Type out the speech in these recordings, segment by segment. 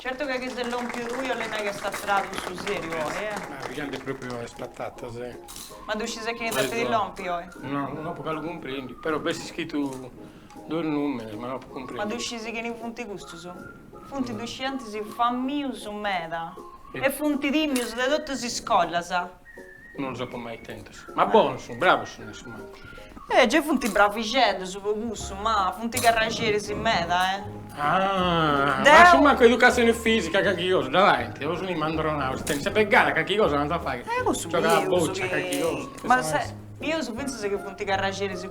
Certu ca chi ses lompiu tui bolit nai ch'est tradu su seriu oi eh. Ma chi ant propriu is patatas eh. Ma ddu scises chini ndi lompit oi. No, non apo galu cumprendiu, però b'est scritu duos numeros ma no apu cumprendiu. Ma ddu scisis chini funt custus? Funt dus scientis famius meda e funt timius de totus is scolas. Non los apo mai tentos. Ma bonos sunt, bravos sunt a su mancu. Eh, gei funt bravixeddus po cussu, ma funt carraxeris meda, eh. Ah, Deu... ma su mancu educatzioni fìsica calchi cosa dda faint? O sunt ammandronaus, si tenit sempri gana calchi cosa l'ant a fai. Eh, cussu bius chi. Giogai a boccia, calchi cosa. Ma sa, bius fintzas chi funt carraxeris.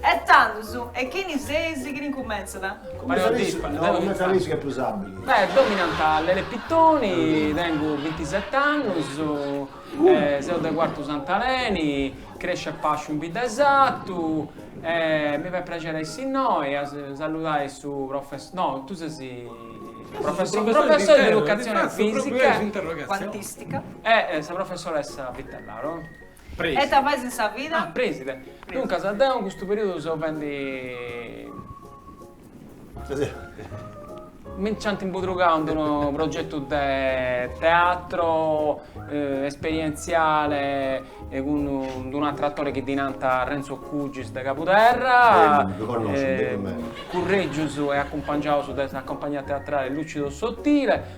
E tandus, e chini seis? Chini incumentzat? Cumenti sa leis, no, cumenti sa leis chi est prus abili. Beh, deu mi nant Lele Pittoni, tengu bintiseti annus, seu de Cuartu Sant'Aleni, cresciu e pasciu in bidda 'e Satu e mi fait prexeri a essi innoi a salludai su professori, no, tu ses su professori de educatzioni fisica e cuantistica e sa professoressa Vitellaro. e ita fais in sa vida? Ah, preside. Duncas, deu in custu periodu seu fendi. Mi nc'ant imbudrugau in d'unu progetu de teatro esperientziale cun d'unu ateru atore chi ddi nant Renzo Cugis de Cabuderra. Ddu connosciu, ddu connosciu. Curregius e acumpangiaus de sa compagnia teatrale Lucido Sottile.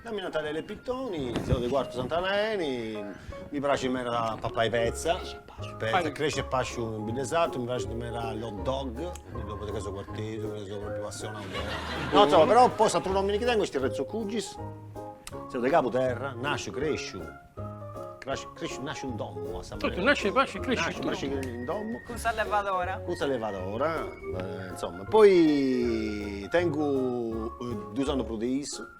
Deu mi nant Lele Pittoni, seu de Quartu Sant'Aleni, mi praxit meda papai petza, petza, cresciu e pasciu in bidda 'e sartu, mi praxint meda l'hot dog, ddopo de ca seu quartesu, ca seu propriu passionau de. No insomma, però po s'atru nomini chi tengu est Renzo Cugis, seu de Cabuterra, nasciu, cresciu, crasciu, cresciu, nasciu in domu a sa manera. Totu, nasciu, pasciu e cresciu in domu. Nasciu, cresciu in domu. Cun sa levadora. Cun sa levadora, insomma, poi tengu dus annus prus de issu.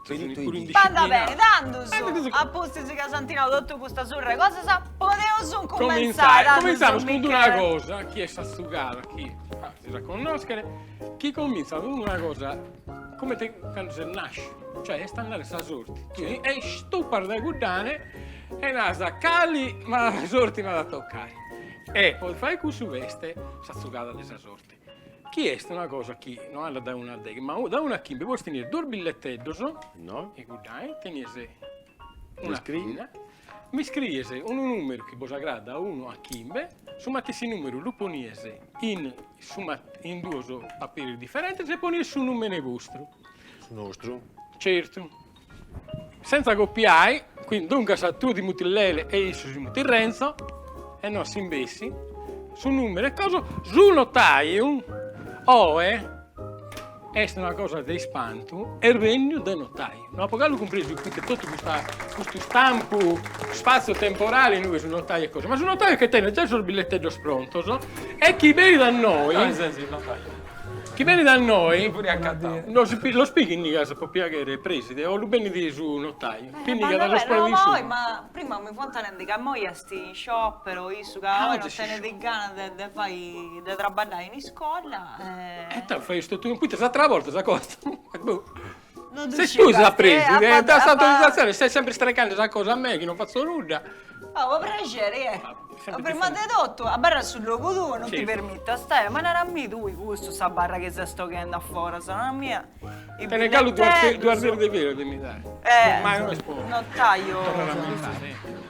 Finitu i dì. Andat beni, tandus, a pustis ca s'ant nau totu custa surra 'e cosas, podeus cumentzai, tandus, Cumentzamus cun d'una cosa chi est sa zugada, chi azis a connoschere, chi comintzat cun d'una cosa cumenti candu ses nasciu, cioè est a andare sa sorti, tui stupas dae cuddae e naras, cali mala sorti m'at a tocai, e po fai cussu b'est sa zugada de sa sorti. Chi est una cosa chi no andat dae unu a deghe, ma dae unu a chimbe, poi tenies duos billetteddos, no, iguddae, tenies una pinna, m'iscriies unu numeru chi bos agradat dae unu a chimbe, su matessi numeru lu ponies in duos papires differentes e ponies su numene vostru. Su nostru. Certu Senza copiai, quindi, duncas tu ti mutis Lele e issu si mutit Renzo, e no a s'imbessi, su numeru e cosu, su notaiu oe est una cosa de ispantu, est regnu de su notaiu. No apo galu cumpresu ite totu custu istampu spazio temporale innui su notaiu e cosu, ma su notaiu est chi tenit già sos billetteddos prontos e chi benit a noi Chi benit a noi, los pinnigas pro piaghere preside o lu benit su notaiu, pinnigas los ponet in su. Ma prima mi fiant narende ca immoi est in sciopero issu ca oe non tenit ganas de fai de traballai in iscola e. E tando fais totu, poita s'atera borta s'acostat, boh Ses tui sa preside, a s'autorizatzione stai sempre strecande sa cosa a mei chi non fatzo nudda. Oh, po prexeri, eh. Prima de totu, abarra su logu tuu, non ti permitto, astaia, ma nara a mì tui custu, sa barra chi ses boghende a foras, nara a mia. Tene galu duas duas deus de filo de mi dai. Eh. Ma io non est po. No t'aio. Torrare a mi dare.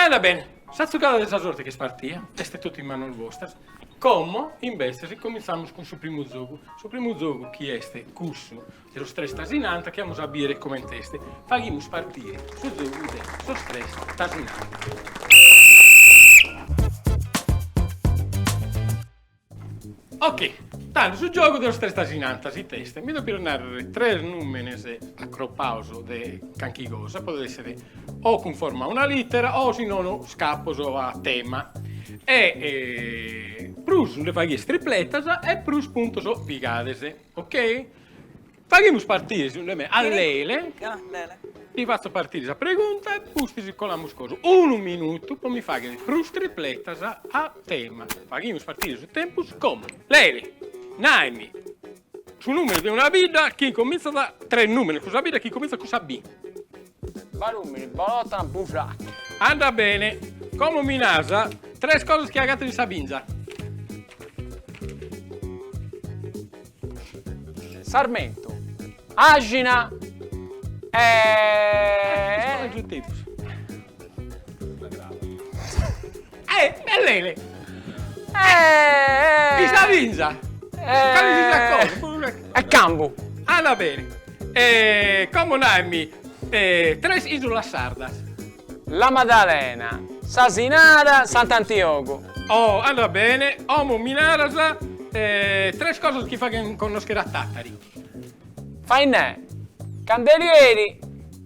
Andat bene, sa zugada de sa sorte ch'est partia est totu in manos bostras, como imbetzes comintzamos cun su primu zogu, su primu zogu chi est cussu de sos tres tasinanta chi amus a bìdere comente est, faghimus partire su zogu de sos tres tasinanta. Ok, tando su giogu de sos tres tasinantas it'est? Mi depides narrer tres numenes acropados de canchi cosa, podet esser o cunforma a una littera o si nono scapos a tema e prus nde faghides tripletas e prus puntos pigades, ok? Faghimus partire, segundu 'e mei, a Lele, ti fatzo partire sa pregunta e pustis colamus cosu, unu minutu po mi fagher prus tripletas a tema. Faghimus partire su tempus como. Lele, naimi su numeru de una bidda chi incominzat, tres numeros cun sa bidda chi incominzat cun sa B. Barumini, Bolotana, Busachi. Andat bene. Como mi naras? Tres cosas chi agatto in sa binza. Sarmentu, àxina e. Est su tempus. Eh! E Lele! Eh! In sa binza! Calesisiat cosa! E cambu! Andat bene! E como naimi tres isulas sardas? La Madalena, S'Asinara, Sant'Antiogu. Oh! Andat bene! Como mi naras tres cosas chi faghen connoschere a Tàtari? Fainè! Candelieri!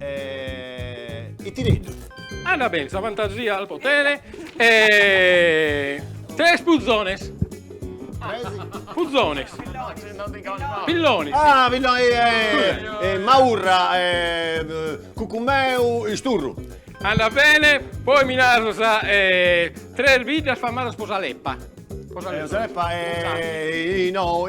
E ite neddu? Andat bene sa fantasia al potere e tres puzones. Tres? Puzones. Pillones. Ah pillones. Maurra, cucumeu, isturru. Andat bene, poi mi naras tres biddas famadas po sa leppa. Po sa leppa e no.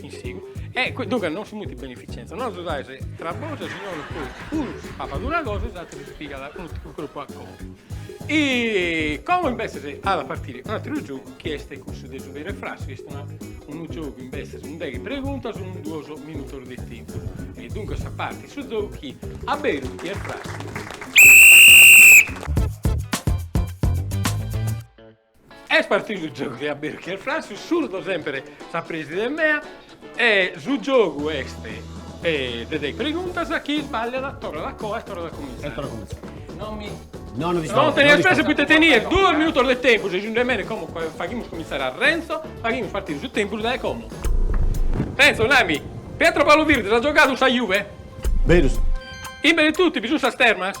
In sigu. E eh, duncas non si mutit beneficenza, non s'agiudais tra bois e si nono puru unu papat una cosa e s'ateru si pigat unu cropu a conca. E como imbetzes at a partiri un'ateru giogu chi est cussu de su vero e frasso, chi est unu giogu imbetzes unu deghe preguntas unu duos minutos de tempus. E duncas partit su giogu chi a beru chi est frassu. Est partidu su giogu de aberu chi est frassu, surdo semper sa preside mea e su giogu est de deghe preguntas chi sballiat torrat a coa e torrat a comintzai. E torrat a comintzai. Non mi Non rispondi. Non tenzas pressa poita tenes duos minutos de tempus e si andat bene como faghimus comintzare a Renzo, faghimus partire su tempus dae como. Renzo, nami, Pietro Paolo Virdis at giogadu in sa Juve? Berus. In Benetutti bi sunt sas termas?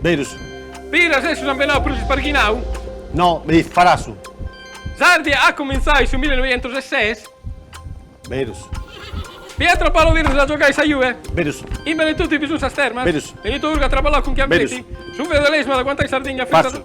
Berus. Piras est su sambenau prus isparghinau? No, beh, farsu. S'Ardia at cumintzau in su mille noientos e ses? Berus. Pietro Paolo Virdis at giogau in sa Juve? Berus. In Benetutti bi sunt sas termas? Berus. Benito Urgu at traballau cun Chiambretti? Berus. Su feudalesimu at aguantau in Sardigna fintzas? Farsu.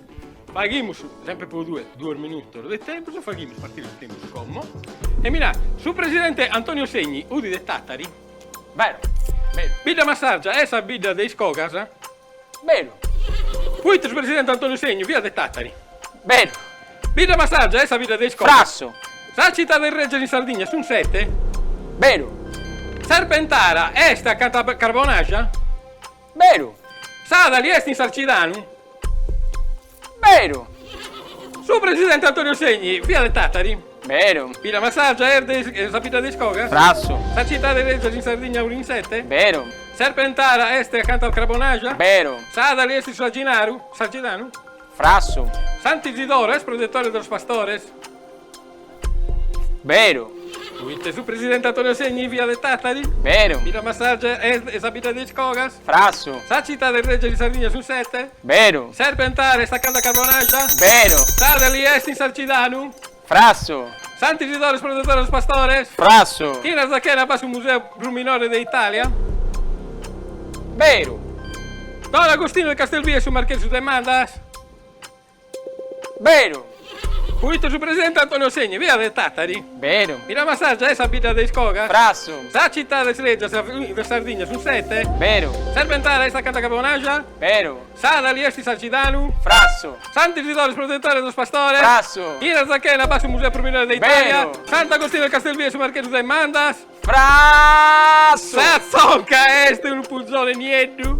Faghimus sempre pro tue duos minutos de tempus e faghimus partire su tempus como e mi naras su presidente Antonio Segni fut de Tatari? Beru. Bidda Massargia est sa bidda de is cogas? Beru. Poita su presidente Antonio Segni fiat de Tatari? Beru. Bidda Massargia est sa bidda de is cogas? Frassu. Sas citades regias in Sardigna sunt sete? Beru. Serpentara est acanta a Carbonaja? Beru! Sadali est in Sarcidanu? Beru! Su presidente Antonio Segni fiat de Tàtari? Beru! Bidda Massàrgia est de is, sa bidda de is cogas? Frassu! Sas citades regias in Sardigna funt sete? Beru! Serpentara est acanta al Crabonaja? Beru! Sadali est in su Aginaru? Sarcidanu? Frassu! Sant'Isidoro est protettore de los pastores? Beru. Poita su presidente Antonio Segni fiat de Tàtari? Beru. Bidda Massargia est sa bidda de is cogas? Frassu. Sas citades regias de Sardigna sunt sete? Beru. Serpentara est acanta a Carbonaja? Beru. Sadali est in Sarcidanu? Frassu. Sant'Isidoro est protetore de los pastores? Frassu. In Arzachena b'at su museu prus minori de Itàlia? Beru. Don Agostinu de Castelvì est su marchesu de Mandas? Beru! Fuit su presidente Antonio Segni, fiat de Tàtari. Beru! Villamassàrgia est sa bidda de is cogas? Frassu! Sas citades règias de Sardigna sunt sete? Beru! Serpentara est acanta a Crabonaxa? Beru! Sàdali est in Sarcidanu? Frassu! Sant'Isidore est protetore de sos pastores? Frassu! In Arzachena b'at su museu prus minore de Itàlia? Beru! Sant'Agostinu 'e Castelvì est su marchesu de Mandas? Frassu! Sa zonca est unu puzone nieddu?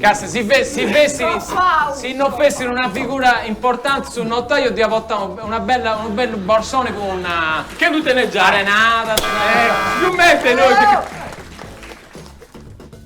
Ca si si fessiri, si no fessiri una figura importanti su notaio diat portai una bella, unu bellu borsoni cun. Che ddu tenet giai. Arenada. Sigomente nois.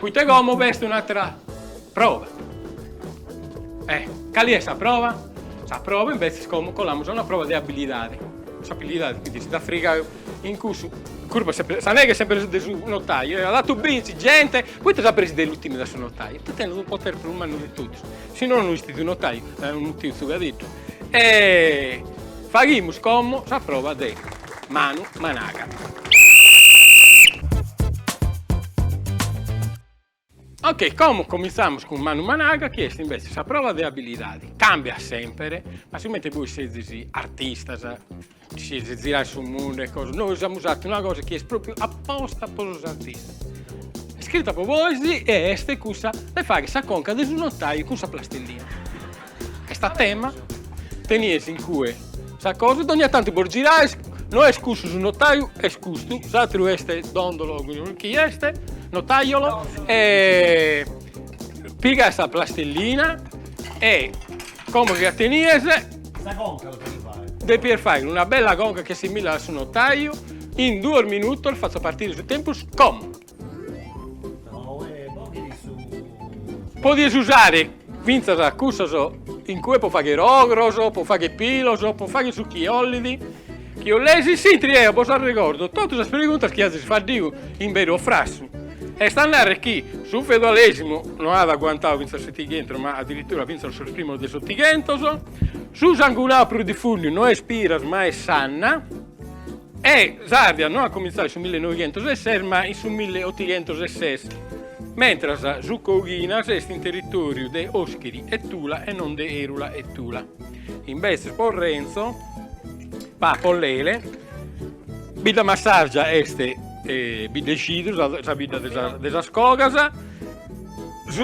Poita como b'est un'atra prova. E cali est sa prova? Sa prova imbetzes como colamus a una prova de abilidade. S'abilidade chi ddis at a frigai in cussu, curpa, sa neghe est semper de su notaiu, at fatu binci genti, poita sa presi de Lutinu est su notaiu, ita tenit unu potere prus mannu de totus, si no no istit unu notaiu, unu tiu tzugadeddu E faghimus como sa prova de manu managa. Ok, como cominzamus cun manu managa chi est invece sa prova de abilidadi, cambiat semper, ma sigomente bois sezis artistas, Ziraes su mundu e cosa, nois amus fatu una cosa chi est propriu aposta po sos artistas, est scritta po bois e est cussa de fagher sa conca de su notaiu cun sa plastilina. Est a tema, tenies in cue sa cosa, dogna tantu bos giraes, no est cussu su notaiu, est custu, s'atteru est dondolo chi est, notaiolo e pigas sa plastilina e como chi la tenies Sa conca lo cheri fai? Depies fagher una bella conca chi assimilat a su notaiu, in duos minutos fatzo partire su tempus como. Podies usare fintzas cussos in cue po fagher ogros, po fagher pilos, po fagher su chi 'ollidi. Chi 'olies si intris deu bos arregordo totu sas preguntas chi azis faddiu in beru o frassu. Est a narrer chi su feudalesimu no at aguantau fintzas su Setighentos ma adiritura fintzas sos primos de s'Otighentos, su sangunau prus difundiu no est Piras ma est Sanna e s'Ardia no at comintzau in su millenoighentos e ses ma in su milleotighentos e ses, mentras su Coghinas est in territoriu de Oschiri e Tula e non de Erula e Tula. Imbetzes po Renzo, Papo Lele, Biddamassargia est Biddacidru, sa bidda de sas cogas,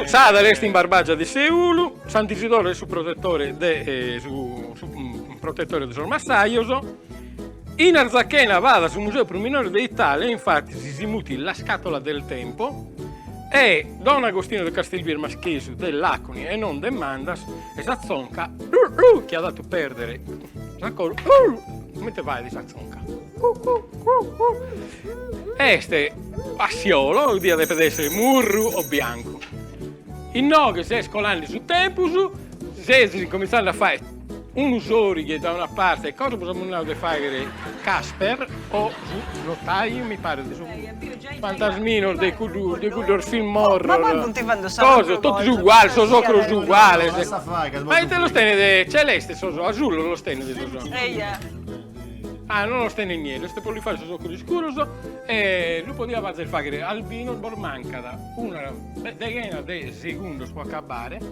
Sadali est in Barbagia de Seulu, Sant'Isidoro est su protetore de sos massajos, in Arzachena b'at su museu prus minore de Italia, infattis si mutit La scatola del tempo e Don Agostino de Castelvì est Marchesu de Laconi e non de Mandas E sa tzonca chi at fatu perdere sa colu comente fait sa tzonca est assiolo diat deper esser murru o biancu inoghe ses colande su tempus ses incominzande a fai unu sorighe da una parte e cosa bos amus nau de fagher Casper o su notaio mi paret de su Fantasminos de cuddos film horror, coso, totus uguales, sos ocros uguales, ma ite los tenet, celestes sos ocros, asulos los tenet sos ocros, ah non los tenet nieddos, est po li fagher sos ocros iscuros e lu podiat fazer fagher albinos, bos mancat una deghena de segundos po acabare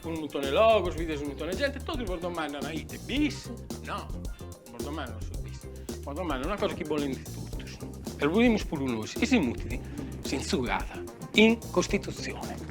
cun unu muntone 'e logos, bides unu muntone 'e gente, totus bos domandana ite, bis? No, non bos domandana su bis, bos domandana una cosa chi bolent totus, e lu bolimus puru nois, chi si mutit s'intzugada in Costitutzione.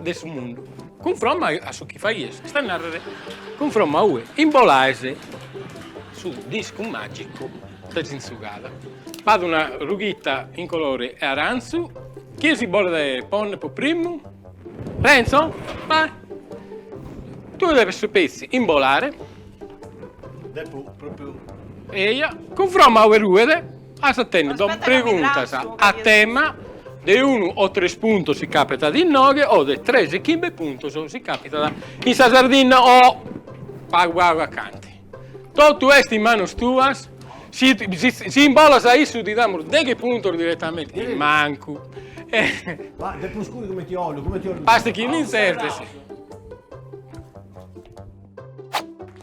de su mundu. Cunfromma a su chi faghies, est a narrer, cunfromma a ue imbolaes su discu magicu de s'intzugada. B'at una rughitta in colore 'e arantzu, chie si bolet ponner po primmu? Renzo? Beh, tue depes petzi imbolare. Depo propriu. Eja, cunfromma a ue ruet. As a tenni dos preguntas a tema de unu o tres puntos si capitat inoghe o de tres e chimbe puntos si capitat in sa Sardinna o pagu pagu acanti. Totu est in manos tuas, si imbolas a issu ti damus deghe puntos diretamenti, mancu. Ma de prus scuri cumenti ollu, cumenti ollu. Bastat chi mi intzertes.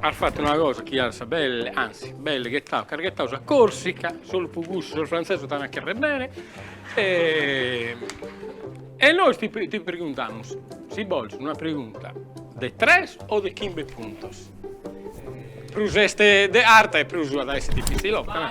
As fattu una cosa chi as belle, anzi, belle ghettau, ch'as ghettau sa Corsica, solu po cussu sos franzesos t'an a cherrer bene e e nois ti preguntamus, si bolis una pregunta de tres o de chimbe puntos, prus est de arta e prus at a esser difitzilocca.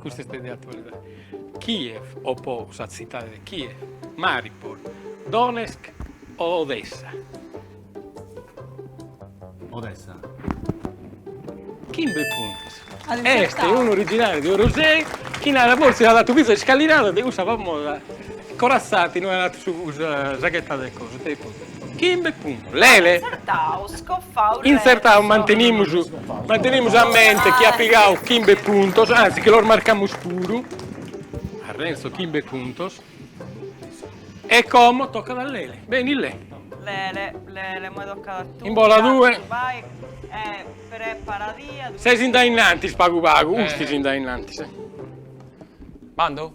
Custa est de atualidade. Kiev o po sa tzitade de Kiev, Mariupol, Donetsk o Odessa? Odessa. Chimbe puntos. Est unu originariu de Orosei chi narat fortzis at fatu fintzas s'iscalinada de cussa famosa corazzata in ue at fatu su sa ghetta de cosa. Chimbe puntos Lele. Intzertau mantenimus mantenimus a mente chi at pigau chimbe puntos, anzi chi los marcamus puru, a Renzo chimbe puntos, e como tocat a Lele, beni Le. Lele, Lele, imoi tocat a tui. Imbola tue. Vai e preparadia. Ses in dae innantis pagu pagu, ustis in dae innantis. Bando?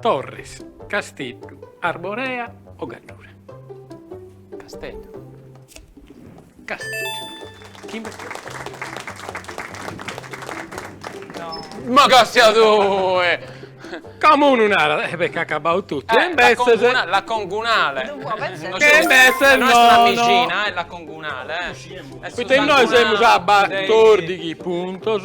Torres, Casteddu, Arborea o Gaddura? Casteddu. Casteddu. Chimbe puntus. Ma ca si a due! Como unu narat, eh beh, ch'est acabau totu. Eh, la congunale. La congunale. Che imbetzes nono. No est una mixina, eh, la congunale. Poita innoi semus a batordighi puntus.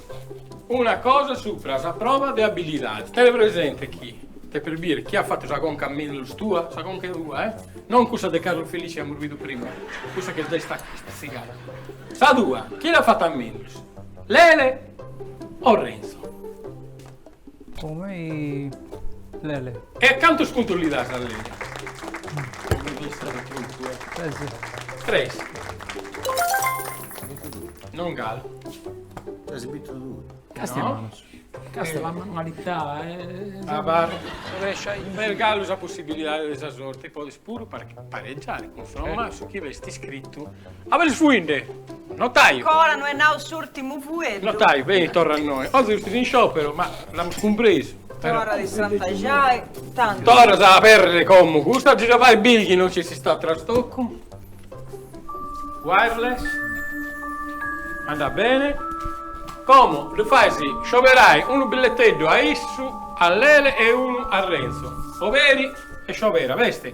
Una cosa supra sa prova de abilidade. Tene presente chi depes bìdere chie at fatu sa conca a mellus tua, sa conca tua, eh? Non cussa de Carlo Felice chi amus bidu prima, cussa chi est giai istatzigada. Sa tua, chie l'at fata a mellus? Lele o Renzo? Po mei Lele. E a cantos puntos li das a lele? Tres. Non galu. Ses bitu tue. Castimanos. Castimanos. La manualità. Abar. Est galu sa possibilidade de sa sorte, podes puru pareggiare, cunforma a su chi b'est iscritu. A ube ses fuinde? Notaiu! Ancora no est nau s'urtimu fueddu! Notaiu, beni, torra innoi. Oggi fustis in scioperu, ma l'amus cumpresu. Torradì a strantaxai, tantu. Torras a aperrere como custa, gi dda fais biri chi no nci esistat trastocu. Wireless. Andat bene. Como ddu fais scioberai unu billetteddu a issu, a Lele e unu a Renzo. Oberi e sciobera, besti?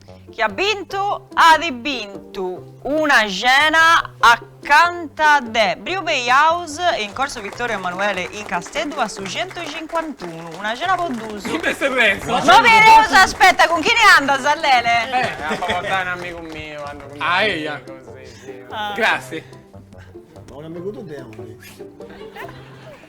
Chi at bintu at bintu. Una cena acanta de Brew Bay House in Corso Vittorio Emanuele in Casteddu a su centucincuantunu, una cena po duus. Chi b'est Renzo? No bi eus, aspetta, cun chini andas Lele? Apu a portai un amigu miu, andu cun mei amigos, si si. Grazie. Ma un amigu tuu de aundi?